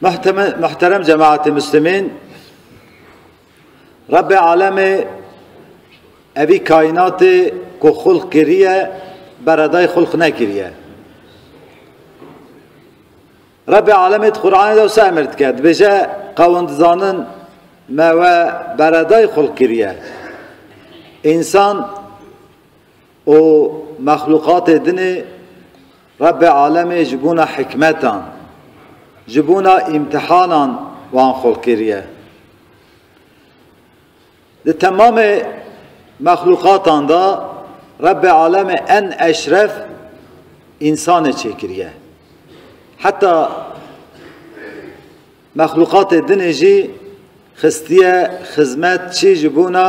Muhterem cemaatê Müslümên, Rabbê Alemê evî kaînatê ku xulq kiriye beredayê xulq nekiriye. Rabbê Alemê di Qur'anê de wisa emir dike dibêje qewin dizanin me we beredayê xulq kiriye. Însan Û mexlûqatê dinê Rebbê Alemê ji bona hikmetan, ji bona îmtihanan wan xulq kiriye. Di temamê mexlûqatan de Rebbê Alemê en eşref însanê çêkiriye. Heta mexlûqatê dinê jî xistiye xizmet çi ji bona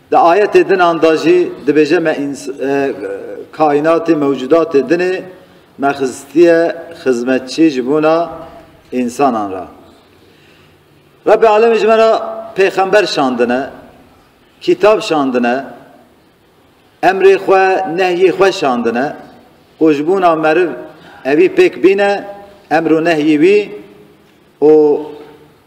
Di ayetê dinan de jî dibêje me kaînatê mewcudatê dinê me xistiye xizmetçî ji bona însanan re. Rebbi Alemî ji me re pêxember şandine, kîtab şandine, emrê xwe nehyê xwe şandine û ji bona meriv evî pêk bîne emr û nehyî wî û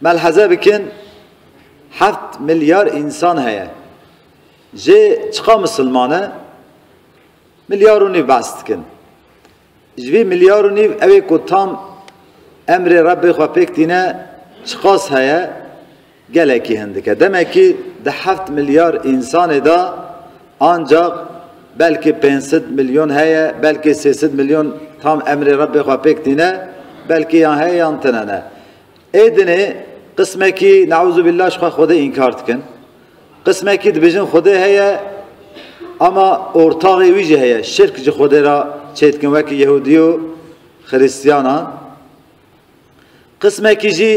Melheze bikin heft milyar însan heye. Jê çiqa misilman e? Milyar û nîv behs dikin. Ji vî milyar û nîv ew ê ku tam emrê Rebbê xwe pêk tîne çiqas heye? Gelekî hindik e. Demekî di heft milyar însanê de ancaq belkî pênc sed milyon heye, belkî sê sed milyon tam emrê Rebbê xwe pêk tîne, belkî yan heye yan tune ne. Ê dinê qismekî neuzubîllah ji xwe Xwedê înkar dikin. Qismekî dibêjin Xwedê heye ama ortaxê wî jî heye. Şirk ji Xwedê re çêdikin wekî Yehûdî û Xirîstiyanan. Qismekî jî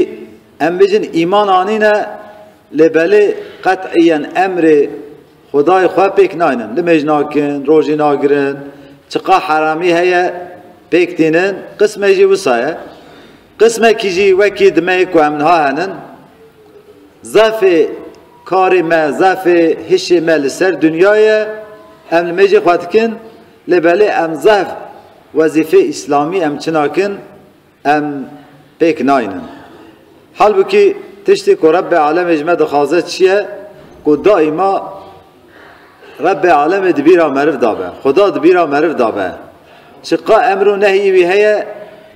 em bêjin îman anîne lê belê qet'îyen emrê Xwedayê xwe pêk naynin. Limêj nakin, rojî nagirin, çiqa heramî heye pêk tînin. Qismê jî wisa ye. Qismekî jî wekî dimeyê ku em niha hene in. Zafê karê me, zafê hişê me li ser dinya ye, em li mêjê xwe dikin, lê belê em zaf wezîfê îslamî em çi nakin em pêk nayînin. Halbûkî tiştê ku Rebbê Alemê ji me dixwaze çi ye ku daîma Rebbê Alemê di bîra meriv da be, Xuda di bîra meriv da be. Çi qa emr û nehîyî wî heye,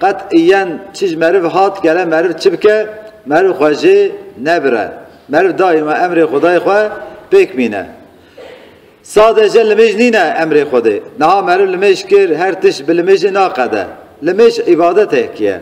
qet îyen çi ji meriv hat gere meriv çi bike, meriv xwe jê nebire. Meriv daîma emrê Xudayê xwe pêk mîne. Sade jê limêj nîne emrê Xwedê. Niha meriv limêj kir, her tişt bi limêjê naqede. Limêj îbadetêk ye.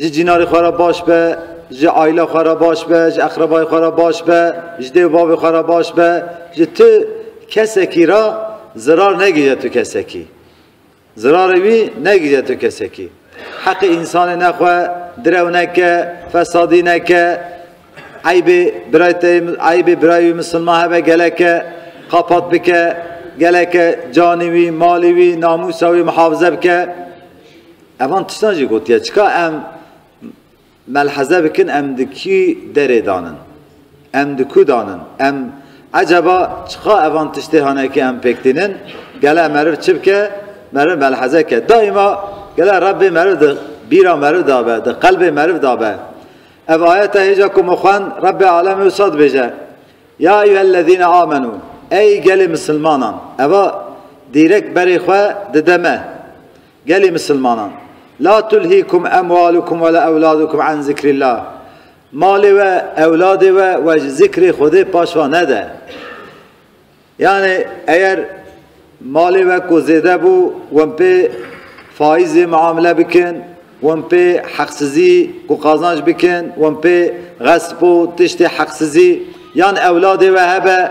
Ji cînarê xwe re baş be, ji aîla xwe re baş be, ji eqrebayê xwe re baş be, ji dê û bavê xwe re baş be, ji tu kesekî re zirar negihîje tu kesekî. Zirarê wî negihîje tu kesekî. Heqê însanê nexwe, direw neke, fesadî neke, eybê birayê te eybê birayê wî misilman hebe geleke qapat bike, geleke canî wî, malî wî, namûsa wî mihafize bike. Evan tiştan jî gotiye, çika em melheze bikin em di kî derê danin, em di ku danin, em eceba çika evan tiştê hane ki em pêk tînin, gele meriv çi bike, meriv melheze ke. Daîma gele Rebbê meriv di bîra meriv de be, di qelbê meriv de be. Ev ayete hêja ku min xwend Rebbê alemê wisa dibêje, Ya eyyuhellezîne amenû, ey gelê misilmanan, eva dîrek berê xwe dide me. Gelê misilmanan, La tulhîkum emwalukum wela ewladukum an zîkrîllah, Malê we, ewladê we we ji zîkrê Xwedê paş va nede. Yanî eger malê we ku zêde bû wan pê faîzê miamile bikin, wan pê heqsizî ku qazanc bikin, wan pê xesp û tiştê heqsizî yan ewladê we hebe,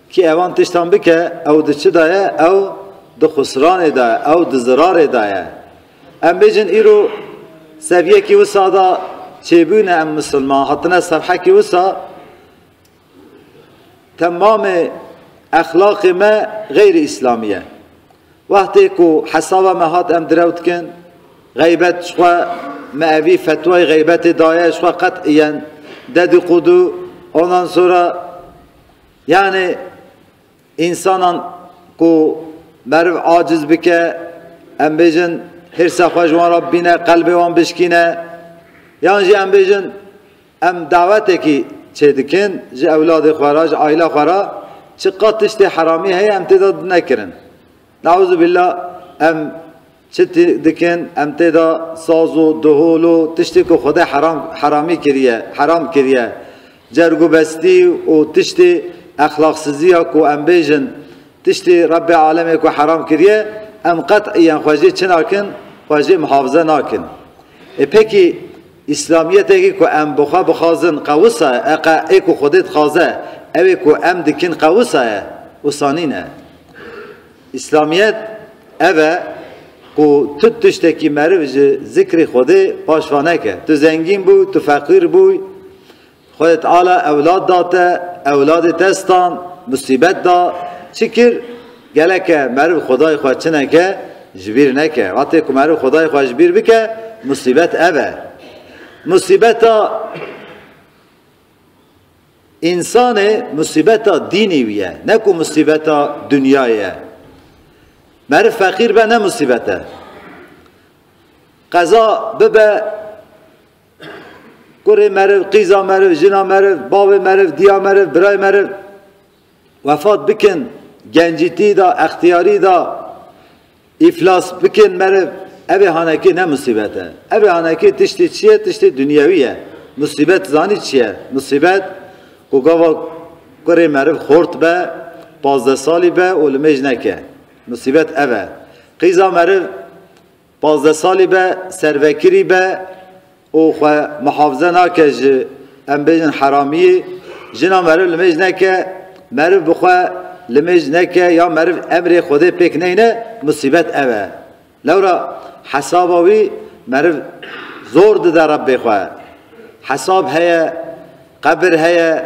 Kî evan tiştan bike ew di çi da ye? Ew di xusranê da ye, ew di zirarê da ye. Em bêjin îro seviyekî wisa da çêbûne em misilman hatine serhekî wisa temamê exlaqê me xeyrî îslamî ye. Wextê ku hesaba me hat em direw dikin, xeybet ji xwe me evî fetwayê xeybetê daye ji xwe qet îyen dedî qûdû onan sora Yanî însanan ku meriv aciz bike, em bêjin hîrsa xwe ji wan re bîne, qelbê wan bişkîne yan jî em bêjin em dawetekî çêdikin ji ewladê xwe re, ji aîla xwe re çiqat tiştê heramî heye em tê de nekirin. Neûzubîllah em Çi dikin em tê de saz û duhul û tiştê ku Xwedê heramî kiriye, heram kiriye. Cergûbestî û tiştê exlaqsiziya ku em bêjin tiştê Rebbê Alemê ku heram kiriye, em qet-îen xwe jê çi nakin, xwe jê mihafize nakin. Ê pekî Îslamîyetekî ku em bi xwe bixwazin qewisa ye, eqa ê ku Xwedê dixwaze, ewê ku em dikin qewisa ye, wisa nîne. Îslamiyet ev e ku tu tiştekî meriv ji zikrê Xwedê paş va neke. Tu zengîn bû, tu feqîr bû, Xwedê Teala ewlad da te, ewladê te stan, musîbet da, çi kir? Geleke meriv Xwedayê xwe çi neke? Ji bîr neke. Wextê ku meriv Xwedayê xwe ji bîr bike, musîbet ev e. Musîbeta. Însanê musîbeta dînî wî ye, ne ku musîbeta dinyayê ye. Meriv feqîr be ne musîbet e. Qeza bibe kurê meriv, qîza meriv, jina meriv, bavê meriv, diya meriv, birayê meriv. Wefat bikin gencîtî da extiyarî da îflas bikin meriv evê hanekî ne musîbet e. Evê hanekî tiştî çi ye tiştî dunyewî ye. Musîbet zanî çi ye? Musîbet ku gava kurê meriv xort be pazdeh salî be û li mêj neke. Musîbet ev e. Qîza meriv Pazdeh salî be servekirî be û xwe mihafize nake ji em bêjin heramiyê. Jina meriv li mêj neke, meriv bi xwe li mêj neke ya meriv emrê Xwedê pêk neyne musîbet ev e. Lewra hesaba wî meriv zor dide Rebbê xwe. Hesab heye, qebir heye,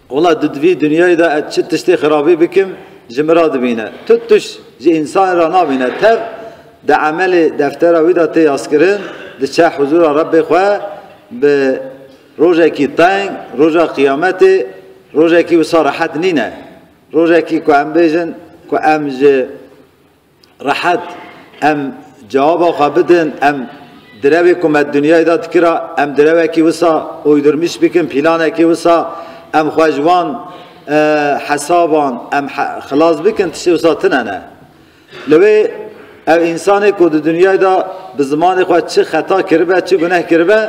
Wela di vî dinyayê de ez çi tiştê xirabî bikim ji min re dibîne. Tu tişt ji însanê re nabîne. Tev di emelê deftera wî de tê yaskirin, diçe huzûra Rebbê xwe bi rojekî teng, roja qiyametê, rojekî wisa rehet nîne. Rojekî ku em bêjin ku em ji. Rehet em cewaba xwe bidin, em direvê ku me di dinyayê de dikira, em direvekî wisa uydurmîş bikin, pîlanekî wisa em xwe ji wan hesaban em xilas bikin tiştê wisa tune ne. Li wê ev însanê ku di dinyayê de bi zimanê xwe çi xeta kiribe, çi guneh kiribe,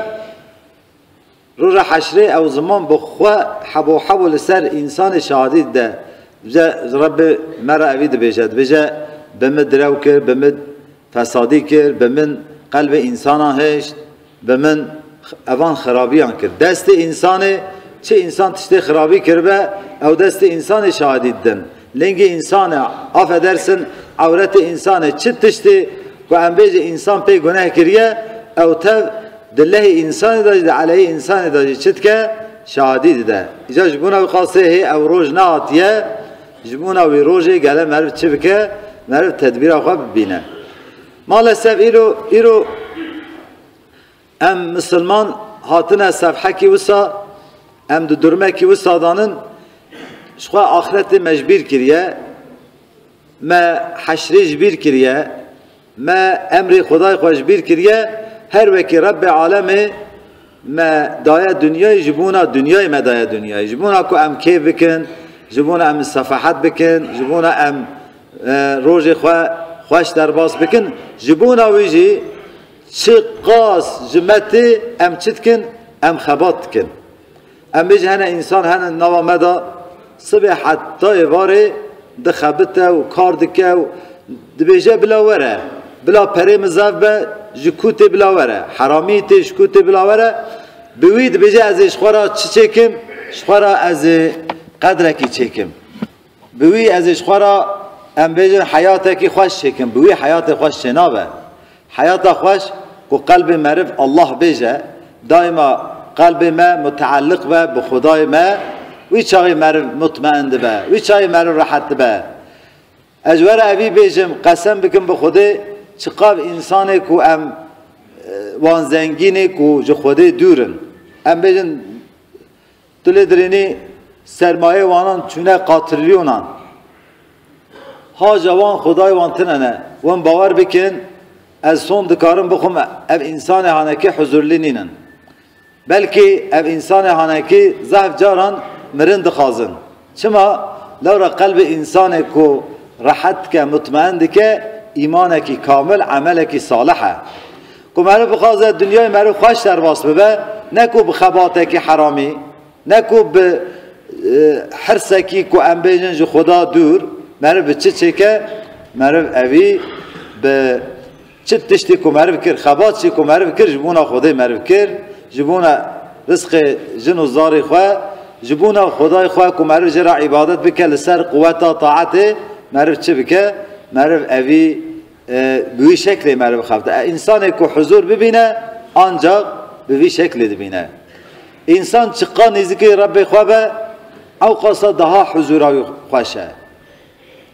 Roja heşrê ew ziman bi xwe hebo hebo li ser însanê şahidî dide. Dibêje Rebbi me re evî dibêje. Dibêje bi min direw kir, bi min fesadî kir, bi min qelbê însanan hişt, bi min evan xirabîyan kir. Destê însanê, çi însan tiştê xirabî kiribe, ew destê însanê şahidî didin. Lingê însan e. Afe dersin ewretê însan e. Çi tiştê ku em bêjê însan pê guneh kiriye ew tev di lehê însanê de jî di eleyê însanê de jî çi dike şahidî dide. Îcar ji bona wî qasê hê ew roj nehatiye ji bona wî rojê gele meriv çi bike meriv tedbîra xwe bibîne. Ma li sev îro îro Em misilman hatine sevhekî wisa em di durmekî wisa de nin ji xwe axretê me ji bîr kiriye, me heşrê ji bîr kiriye, me emrê xwedayê xwe ji bîr kiriye, her wekî Rebbê alemê me daye dinyayê ji bona dinyayê me daye dinyayê, ji bona ku em kêf bikin, ji bona em sefahet bikin, ji bona em rojê xwe xweş derbas bikin, ji bona wî jî Çi qas ji me tê em çi dikin? Em xebat dikin. Em ê jî hene însan hene di nava me de sibê heta êvarê dixebite û kar dike û dibêje bila were, bila perê min zef be ji ku tê bila were, heramî tê ji ku tê bila were. Bi wî dibêje ez ê ji xwe re çi çêkim? Ji xwe re ez ê qedrekî çêkim. Bi wî ez ê ji xwe re em bêjin heyatekî xweş çêkim. Bi wî heyatê xweş çênabe. Heyata xweş ku qelbê meriv Allah bêje, daîma qelbê me muteelliq be bi Xwedayê me, wî çaxê meriv mutmein dibe, wî çaxê meriv rehet dibe. Ez ji we re evî bêjim, qesem bikim bi Xwedê, çiqav însanê ku em wan zengînê ku ji Xwedê dûr in. Em bêjin Tu lê dirênî sermayê wanan çûne qatrîlyonan. Haca wan xwedayê wan tine ne. Wan bawer bikin ez son dikarim bixwim ev însanê hanekî huzurlî nînin. Belkî ev însanê hanekî zehf caran mirin dixwazin. Çima? Lewra qelbê însanê ku rehet dike, mutmein dike, îmanekî kamil, emelekî salih e. Ku meriv bixwaze dinyayê meriv xweş derbas bibe, ne ku bi xebatekî heramî, ne ku bi hirsekî ku em bêjin ji Xweda dûr, meriv bi çi çêke? Meriv evî bi Çi tiştî ku meriv kir, xebatî ku meriv kir ji bona Xwedê meriv kir, ji bona risqê jin û zarê xwe, ji bona Xwedayê xwe ku meriv jê re îbadet bike li ser quweta taetê meriv çi bike, meriv evî bi wî şeklê meriv xebite. Însanê ku huzûr bibîne ancax bi vî şeklê dibîne. Însan çiqas nêzîkî Rebê xwe be ewqasa daha huzûra wî xweş e.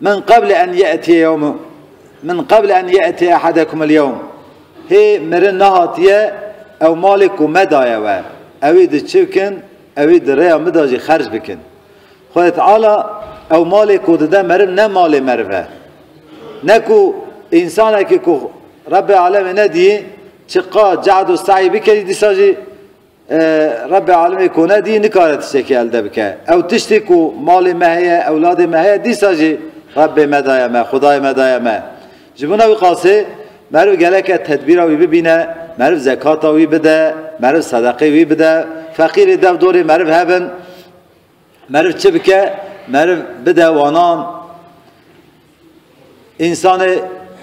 Min qeble en ye'tiye yewm Min qeble en ye'tiye ehadekumul yewm Hê mirin nehatiye ew malê ku me daye we, ewî di çi bikin? Ewî di rêya min de jî xerc bikin. Xwedê Teala ew malê ku dide meriv ne malê meriv e. Ne ku însanekî ku Rebbê Alemê nedîyî çiqad cehd û seyî bikerî dîsa jî Rebbi alimê ku ne dî nikare tiştekî elde bike. Ew tiştî ku malê me heye, ewladê me heye dîsa jî Rebbê me daye me, Xwedayê me daye me. Ji bona wî qasê meriv geleke tedbîra wî bibîne, meriv zekata wî bide, meriv sedeqê wî bide, feqîrê dev dorê meriv hebin. Meriv çi bike? Meriv bide wanan. Însanê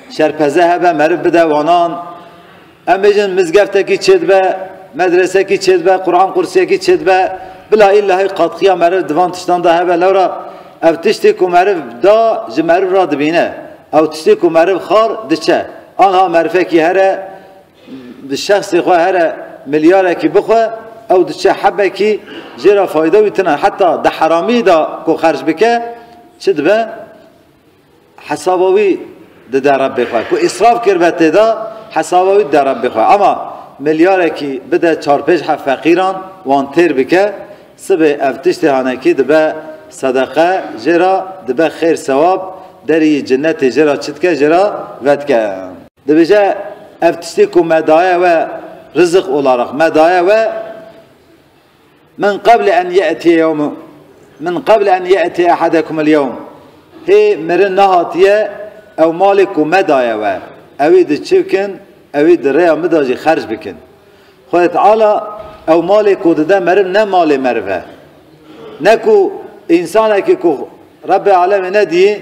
şerpeze hebe meriv bide wanan. Em bêjin mizgeftekî çêdibe, medresekî çêdibe, Quran qursiyekî çêdibe. Bila îllahî qatxiya meriv di van tiştan de hebe. Lewra ev tiştê ku meriv da ji meriv re dibîne. Ew tiştê ku meriv xar diçe. Anha merifekî here. Di şexsê xwe here milyarekî bixwe, ew diçe hebekî jê re fayde wî tune. Heta di heramî de ku xerc bike çi dibe? Hesaba wî dide Rebbê xwe. Ku îsraf kiribe tê de hesaba wî dide Rebbê xwe. Ama milyarekî bide çar pênc heft feqîran wan têr bike, sibê ev tiştê hanekî dibe sedeqe jê re, dibe xêr sewab, derî yî cinetê jê re çi dike jê re vedike. Dibêje ev tiştê ku me daye we Rızık olarak me daye we Min qeble en ye'tiye yewmu Min qeble en ye'tiye ehadekumul yewm Hê mirin nehatiye ew malê ku me daye we ewî di çi bikin ewî di rêya min de jî xerc bikin. Xwedê Teala ew malê ku dide meriv ne malê meriv e. Ne ku însanekî ku Rebbê Alemê nediyî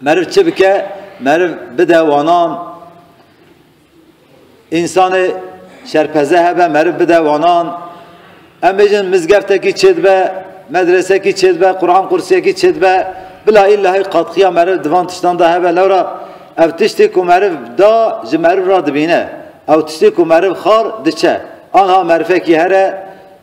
Meriv çi bike? Meriv bide wanan. Însanê şerpeze hebe meriv bide wanan. Em bêjin mizgeftekî çêdibe, medresekî çêdibe, Quran qursiyekî çêdibe. Bila îllahî qatxiya meriv di van tiştan de hebe. Lewra ev tiştê ku meriv da ji meriv re dibîne. Ew tiştê ku meriv xar diçe. Anha merifekî here.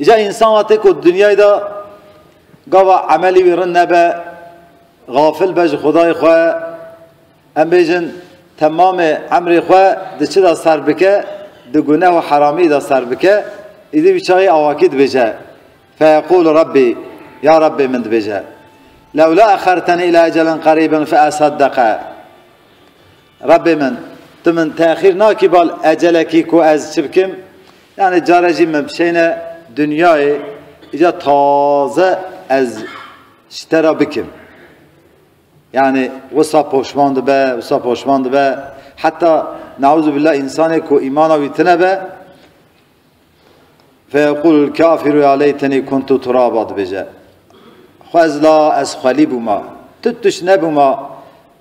Îca însan wa tê ku di dinyayê de gava emelî wî rind nebe, gafil be ji Xwedayê xwe, em bêjin temamê emrê xwe di çi de ser bike, di guneh û heramî de ser bike, îdî wî çaxê awakî dibêje feyeqûl Rabbî, ya Rabbê min dibêje. Lewla exerteni îlâ ecelen qerîben feesaddeqa. Rebbê min, tu min texîr nakî bal ecelekî ku ez çi bikim, yanî care jî min bişêne dinyayê, îcar taze ez ji te re bikim. Yanî wisa poşman dibe, wisa poşman dibe, heta neûzûbîllah însanê ku îmana wî tune be, feyeqûlul kafîru ya leytenî kuntu turaba dibêje. Xwezla ez xwelî bûma, tu tuş nebûma,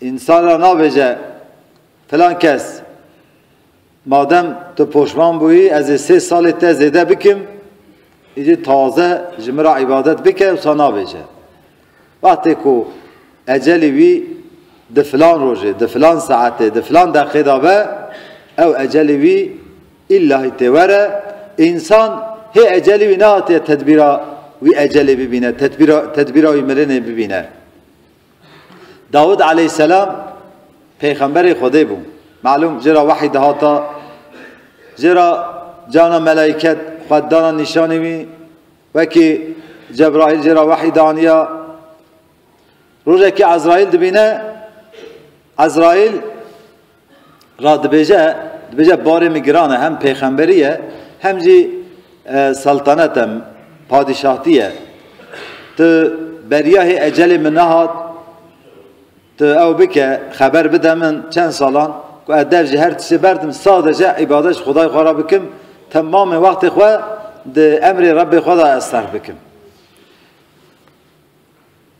Însan re nabêje filan kes madem tu poşman bûyî ez ê sê salê te zêde bikim, îdî taze ji min re îbadet bike wisa nabêje. Wextê ku ecelî wî di filan rojê, di filan saetê, di filan deqê de be, ew ecelî wî îllahî têwere, însan hê ecelî wî nehatiye tedbîra wî ecelê bibîne, tedbîra wî mirinê bibîne. Dawûd aleyhîsselam pêxemberê Xwedê bû. Melûm jê re wehî dihata, jê re cana melaîket xwe dana nîşanî wî, wekî Cebraîl jê re wehî dianiya. Rojekê Ezraîl dibîne, Ezraîl Ra dibêje, dibêje barê min giran e, hem pêxemberî ye, hem jî seltenet e, padîşahtî ye. Tu beriya hê ecelê min nehat, tu ew bike, xeber bide min çend salan ku ez dev ji her tiştê berdim, sadece îbadet ji Xwedayê xwe re bikim, temamê wextê xwe di emrê Rebbê xwe de ez serf bikim.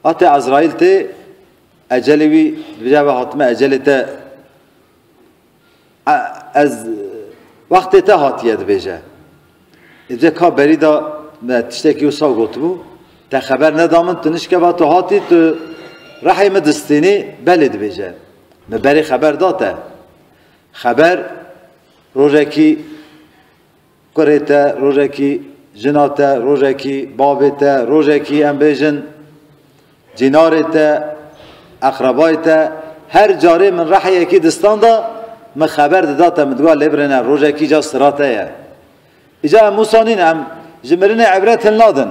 Hate Ezraîl tê, ecelê wî dibêje ev e hatime ecelê te ez wextê te hatiye dibêje. Dibêje ka berî da me tiştekî wisa gotibû, te xeber neda min, tu nişkeva tu hatî tu rehê min distînî, belê dibêje. Mi berê xeber da te. Xeber rojekî Kurê te rojekî, jina te rojekî, bavê te rojekî em bêjin, cînarê te, eqrebayê te, her carê min reheyekî di stan de min xeber dida te min digot lê birêne rojekî ca sira te ye. Îca em Mûsa nîn em ji mirinê îbret hilnadin.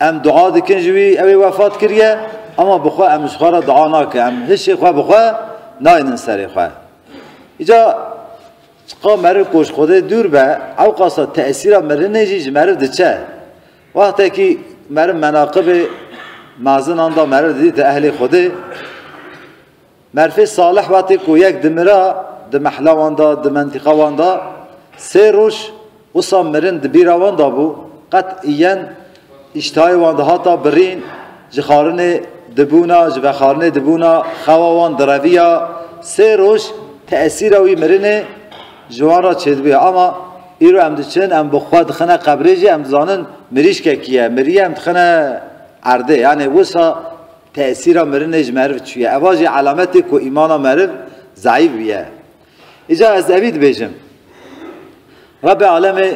Em dua dikin ji wî, ew ê wefat kiriye, ema bi xwe em ji xwe re dua nakin, em hişê xwe bi xwe naynin serê xwe. Îca çiqa meriv ku ji Xwedê dûr be, ewqasa tesîra mirinê jî ji meriv diçe. Wextekî meriv menaqibê mezinan da meriv didîte ehlê Xwedê, Merfê Salih wetê ku yek dimira di mehla wan de, di mentiqa wan de sê roj wisa mirin di bîra wan de bû, qet îyen îştihayê wan dihata birîn, ji xarinê dibûna, ji vexarinê dibûna, xewa wan direviya, sê roj tesîra wî mirinê ji wan re çêdibûye. Ama îro em diçin, em bi xwe dixine qebrê jî em dizanin mirîşkekî ye, miriye em dixine erdê. Yanê wisa Tesîra mirinê ji meriv çi ye? Eva jî alamet e ku îmana meriv zeîf bûye. Îcar ez evî dibêjim. Rebê alemê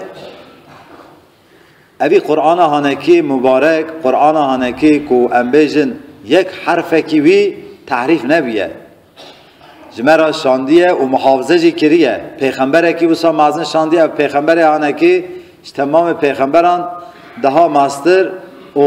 evî Qur'ana hanekî mubarek, Qur'ana hanekî ku em bêjin yek herfekî wî tehrîf nebûye. Ji me re şandiye û muhafize jî kiriye. Pêxemberekî wisa mezin şandiye ev pêxemberê hanekî ji temamê pêxemberan daha meztir û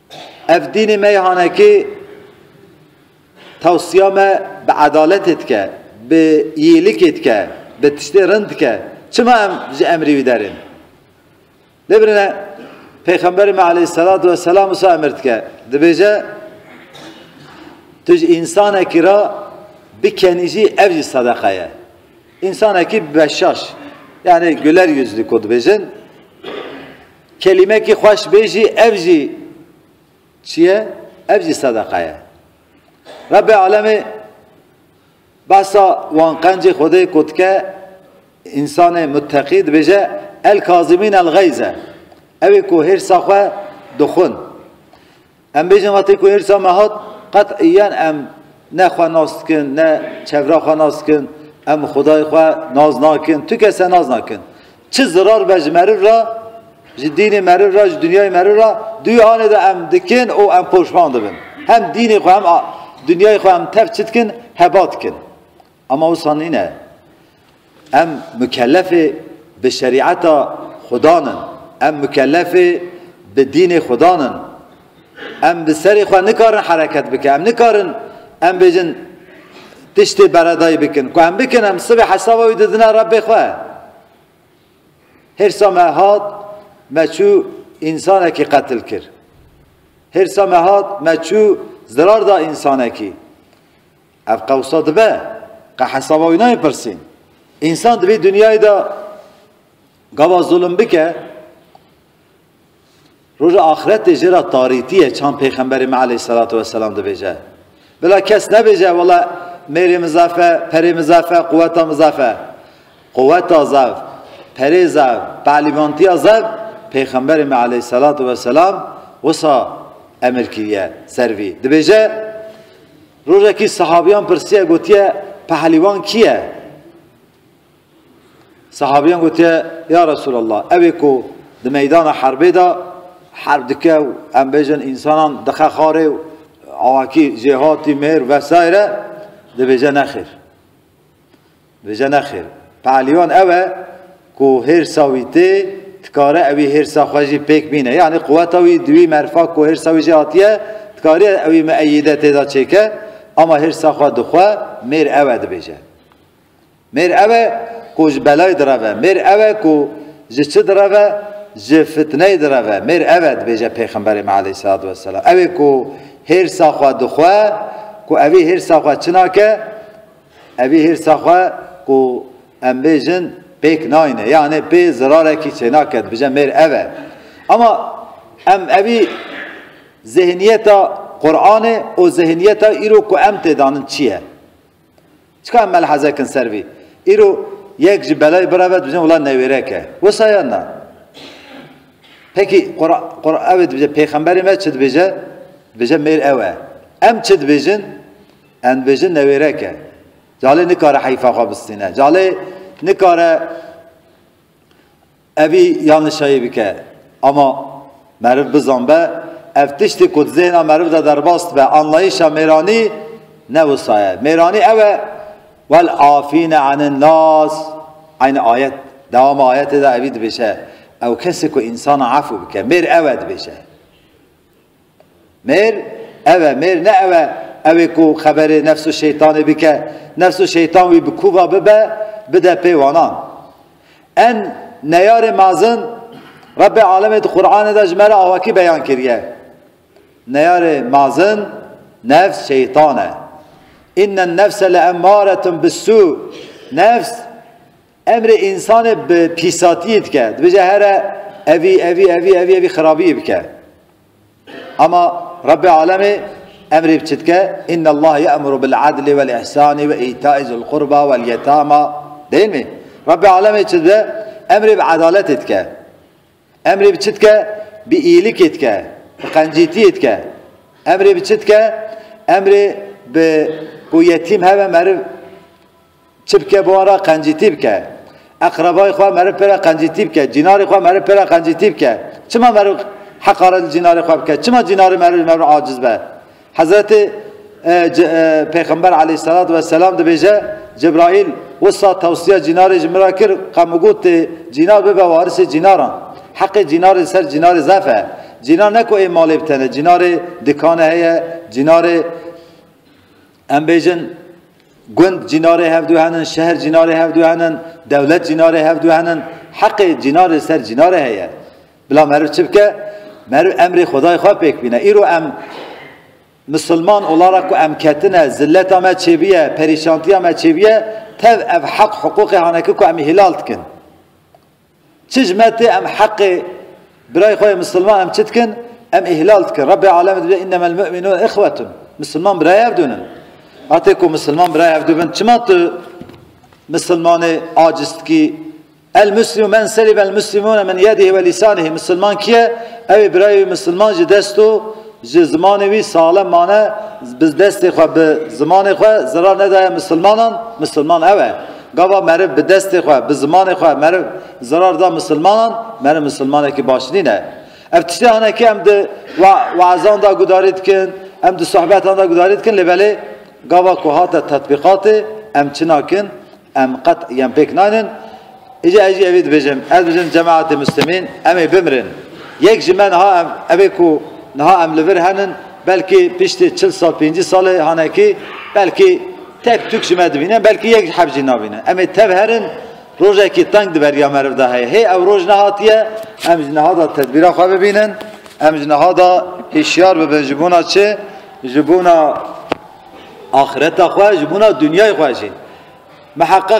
Ev dînê meyhanekî tewsiya me bi edaletê dike, bi îyîlikê dike, bi tiştê rind dike. Çima em ji emrî wî derên? Lê birine Pêxemberê me aleyhîsselatu wesselam wisa emir dike. Dibêje tu ji însanekî re bikenî jî ev jî sedeqa ye. Însanekî beşaş yani güler yüzlü kod bêjin. Kelîmekî xweş bê jî ev jî çi ye? Ev jî sedeqa ye. Rebbê Alemê behsa wan qencê Xwedê ku dike însanê muteqî dibêje El-kazimîn el-geyz e. Ew ê ku hêrsa xwe dixwin. Em bêjin wextê ku hêrsa me hat qet'iyen em ne xwe nas dikin, ne çevra xwe nas dikin, em xwedayê xwe nas nakin, tu kese nas nakin. Çi zirar be ji meriv re, ji dînê meriv re, ji dinyayê meriv re, duyê anê de em dikin û em poşman dibin. Hem dînê xwe hem dinyayê xwe em tev çi dikin, heba dikin. Ema wisa nîne. Em mukellefê bi şerîeta Xudan in. Em mukellefê bi dînê Xudan in. Em bi serê xwe nikarin hereket bikin. Em nikarin em bêjin tiştê beredayî bikin. Ku em bikin em sibê hesaba wî didine Rebbê xwe. Hêrsa me hat me çû însanekî qetil kir. Hêrsa me hat me çû zirar da însanekî. Ev qewsa dibe qe hesaba wî nayê pirsîn. Însan di vî dinyayê de gava zulm bike roja axiretê jê re tarîtî ye çand pêxemberê me eleyhîsselatu wesselam dibêje. Bila kes nebêje wela mêrê min zaf e, perê min zaf e, quweta min zaf e. Quweta zaf, perê zaf, pelîvantiya zaf pêxemberê me eleyhîsselatu wesselam wisa emir kiriye ser vî. Dibêje Rojekî sahabîyan pirsiye gotiye Pehlîwan kî ye? Sahabîyan gotiye Ya Resûlallah ew ê ku di meydana herbê de herb dike û em bêjin însanan dixe xarê û awakî jêhatî mêr vesayre dibêje nexêr. Vêje nexêr. Pe'liyan ew e ku hêrsa wî tê, dikare ewî hêrsa xwe jî pêk bîne. Yanî quweta wî di wî merfa ku hêrsa wî jê hatiye, dikariye ewî mieyîde tê de çêke, ama hêrsa xwe di xwe mêr ew e dibêje. Mêr ew e ku ji belayê direve, mêr ew e ku ji çi direve, ji fitneyê direve. Mêr ev e dibêje Pêxemberê me aleyhîsselatu wesselam. Ewê ku hêrsa xwe di xwe, ku ewî hêrsa xwe çi nake, Evî hîrsa xwe ku em bêjin pêk nayne yanê pê zirarekî çênake dibije mêr ev e. Ama em evî zêhniyeta Quranê û zêhniyeta îro ku em tê danin çi ye? Çika em melhezekin ser vî? Îro yek ji belayê bireve dibijin wila newêrek e. Wisa yan na? Peki Quran ev dibije pêxemberê me çi dibêje? Dibêje mêr ew e. Em çi dibêjin? Em dibêjin newêrek e. Calê nikare heyfa xwe bistîne. Calê nikare evî yan nişayî bike. Ama meriv bizan be ev tiştê ku di zêhna meriv de derbas dibe anlayîşa mêranî ne wisa ye. Mêranî ew e wel afîne anin nas eynî ayet dewama ayetê de evî dibêje ew kesê ku însan a efû bike mêr ew e dibêje. Mêr, ev e, mêr ne ew e, ew ê ku xeberê nefs û şeytanê bike, nefs û şeytan wî bi kûva bibe, bide pê wanan. En neyarê mezin Rebbê Alemê di Quranê de ji me re awakî beyan kiriye. Neyarê mezin nefs şeytan e. Înnen nefse leemmaretun bis-sû. Nefs Emrê însanê bi pîsatiyê dike. Dibêje here evî evî evî evî evî xirabiyê bike. Ama Rabbê Alemê emrê bi çi dike? Inna Allah ye'muru bil adli vel ihsani ve îtaî zul qurba vel yetama. Değil mi? Rabbê Alemê çi dide? Emrê bi edaletê dike. Emrê bi çi dike? Bi îlikê dike. Bi qencîtiyê dike. Emrê bi çi dike? Emrê bi ku yetîm heve meriv Çi bike bi wan re qencîtî bike. Eqrebayê xwe meriv pê re qencîtî bike. Cînarê xwe meriv pê re qencîtî bike. Çima meriv heqaret li cînarê xwe bike? Çima cînarê meriv ji me re aciz be? Hezretê Pêxember aleyhîsselatû vesselam dibêje, Cebraîl wisa tewsiya cînarê ji min re kir, qe min got tê cînar bibe warisê cînaran. Heqê cînarê li ser cînarê zaf e. Cînar ne ku ê malê bi tene, cînarê dikane heye, cînarê Em bêjin gund cînarê hev du henin, şehr cînarê hev du henin, dewlet cînarê hev du henin. Heqê cînar li ser cînarê heye. Bila meriv çi bike? Meriv emrê Xwedayê xwe pêk bîne. Îro em Misilman olara ku em ketine, zilleta me çêbiye, perîşantiya me çêbiye, tev ev heq hiqûqê haneki ku em hilal dikin. Çij me tê em heqê birayê xwe yê misilman em çi dikin? Em îhlal dikin. Rebbê Alemê dibêje innemel mu'minûne ihwetun. Misilman birayê hev dûn in. Hatê ku misilman birayê hev dû bin çima tu misilmanê aciz dikî? El muslimu men selibel muslimûne min yedîhî ve lîsanîhî. Misilman kî ye? Ew ê birayê wî misilman ji dest û ji zimanê wî salem mane, bi destê xwe, bi zimanê xwe zerar nedaye misilmanan, misilman ew e. Gava meriv bi destê xwe, bi zimanê xwe meriv zerar da misilmanan, meriv misilmanekî baş nîne. Ev tiştê hene ke em di weezan da gudarî dikin, em di sohbetan da gudarî dikin lê belê gava ku hate tetbîqatê em çi nakin, em qet yan pêk naynin. Îca ez jî evî dibêjim, ez dibêjim cemaetê muslimîn em ê bimirin. Yek ji me niha em evê ku niha em li vir henin belkî piştî çil sal pêncî salê hanekî belkî Tek Tuk ji me dibîne, belkî yek ji heb jî nabîne. Em ê tev herin, rojekî teng di beriya meriv de heye. Hê ew roj nehatiye, em ji niha de tedbîra xwe bibînin, em ji niha de hişyar bibin ji bona çi? Ji bona axireta xwe, ji bona dinyayê xwe jî. Miheqeq.